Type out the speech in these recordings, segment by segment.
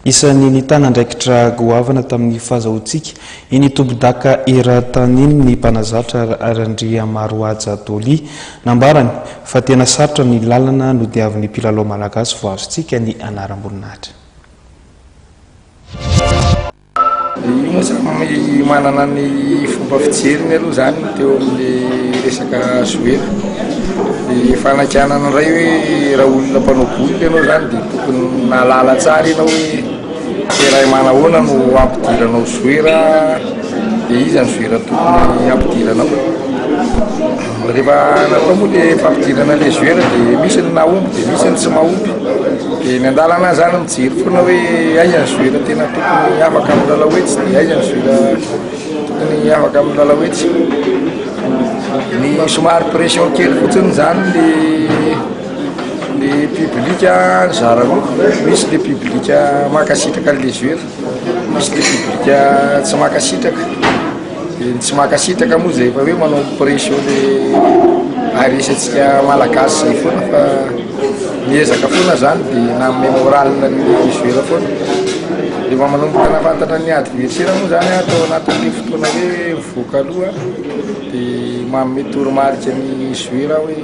Isan'ny nitana andraikitra goavana tamin'ny fahazahoantsika iny tompondaka eran-tany iny ny mpanazatra Randriamarohaja Dolly. Nambarany fa tena sarotra ny lalana nodiavin'ny mpilalao malagasy voazontsika ny anaram-boninahitra. Io moa zany manana ny fomba fijeriny aloha zany teo amin'ny resaka Zoena. Ny fanakianana indray hoe raha olona mpanao boulika ianao zany dia tokony nahalala tsara ianao hoe terrain manahoana no hampidiranao zoera dia iza ny zoera tokony hampidiranao. Rehefa natao moa le fampidirana le joueur dia misy ny mahomby dia misy ny tsy mahomby. Dia ny an-dalana izany mijery foana hoe aiza ny joueur tena tokony afaka amin'ny lalao hetsy dia aiza ny joueur tokony afaka amin'ny lalao hetsy. Ny somary pression kely fotsiny izany le le public nizara roa, misy le public mankasitraka an'le joueur, misy le public tsy mankasitraka. Dia ny tsy mankasitraka moa izay efa hoe manao pression le ARS antsika malagasy izay foana fa miezaka foana izany dia na amin'ny moral ny joueur foana. Rehefa manomboka nafantatra ny adversaire moa izany atao anatin'ny fotoana hoe mivoaka aloha dia manome toromarika ny joueur hoe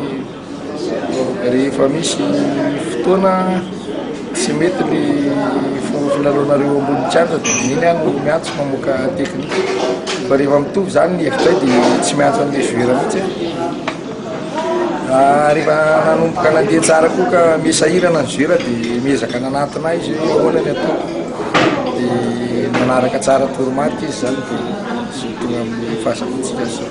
Rehefa misy fotoana tsy mety ny fomba filalaonareo ambony kianja dia amin'iny aho no miantso mamoaka teknika. Fa rehefa mitovy izany ny hevitray dia tsy miantso an'ilay joueur mihitsy aho. Rehefa nanomboka nandeha tsara koa ka miha sahirana ny joueur dia miezaka nanantona ahy izy hoe ahoana ny ataoko. Dia nanaraka tsara toromarika izy izany dia tonga amin'ny fahazahoantsika an'izao.